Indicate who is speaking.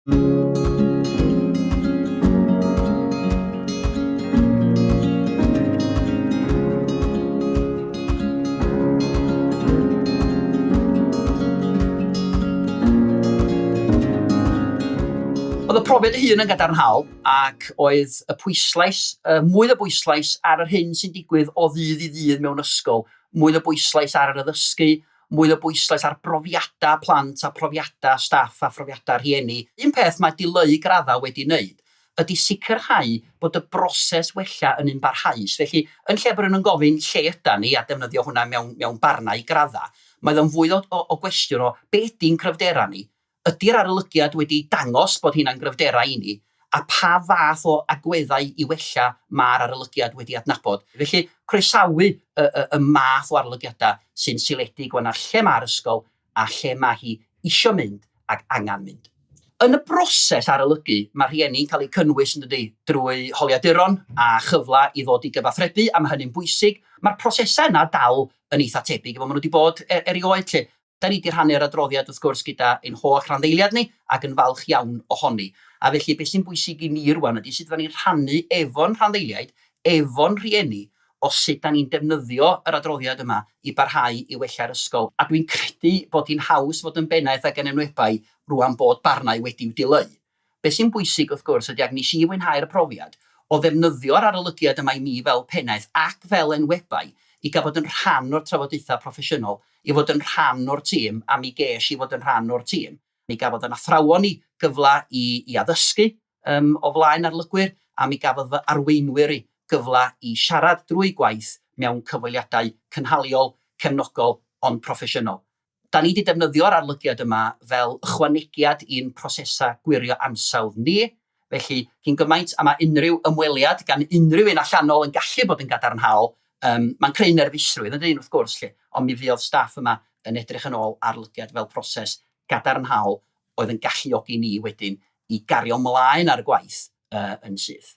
Speaker 1: Oedd y profiad ei hun yn gadarnhaol ac oedd y pwyslais, y mwy o bwyslais ar yr hyn sy'n digwydd o ddydd i ddydd mewn ysgol, mwy o bwyslais ar yr addysgu, mwy o bwyslais ar brofiadau plant a phrofiadau staff a phrofiadau rhieni. Un peth mae dileu graddau wedi wneud ydy sicrhau bod y broses wella yn un barhaus. Felly, yn lle bod rhywun yn gofyn 'lle ydan ni? a defnyddio hwnna mewn barnau i graddau, mae o'n fwy o gwestiwn o 'be ydy'n cryfderau ni? Ydy'r arolygiad wedi dangos bod hyn â'n gryfderau i ni, a pha fath o agweddau i wella mae'r arolygiad wedi adnabod? Felly, croesawu y math o arolygiadau sy'n seiliedig wan ar lle mae'r ysgol a lle mae hi isio mynd ac angen mynd. Yn y broses arolygu, mae rhieni'n cael eu cynnwys, yn dydy, drwy holiaduron a chyfle i ddod i gyfathrebu, a mae hynny'n bwysig. Mae'r prosesau yna dal yn eitha' tebyg i fel maen nhw wedi bod erioed 'lly. Da ni 'di rhannu'r adroddiad wrth gwrs gyda ein holl randdeiliad ni ac yn falch iawn ohoni. A felly beth sy'n bwysig i ni rŵan ydi sut fyddan ni'n rhannu efo'n rhanddeiliaid, efo'n rhieni o sut da ni'n defnyddio yr adroddiad yma i barhau i wella'r ysgol. A dwi'n credu bod hi'n haws fod yn bennaeth ac yn enwebai rŵan bod barnau wedi'w dileu. Be sy'n bwysig, wrth gwrs, ydy, ac nes i fwynhau'r profiad, o ddefnyddio'r arolygiad yma i mi fel pennaeth ac fel enwebai i gael bod yn rhan o'r trafodaethau proffesiynol, i fod yn rhan o'r tîm, a mi ges i fod yn rhan o'r tîm. Mi gafodd yn athrawon i gyfle i i addysgu yym o flaen arlygwyr, a mi gafodd fy arweinwyr i gyfle i siarad drwy gwaith mewn cyfweliadau cynhaliol, cefnogol, ond proffesiynol. Da ni 'di defnyddio'r arolygiad yma fel ychwanegiad i'n prosesau gwirio ansawdd ni, felly cyn gymaint a mae unrhyw ymweliad gan unrhyw un allanol yn gallu bod yn gadarnhaol, yym, mae'n creu nerfusrwydd yn dŷn wrth gwrs 'lly, ond mi fuodd staff yma yn edrych yn ôl arolygiad fel proses gadarnhaol oedd yn galluogi ni wedyn i gario 'mlaen â'r gwaith yy yn syth.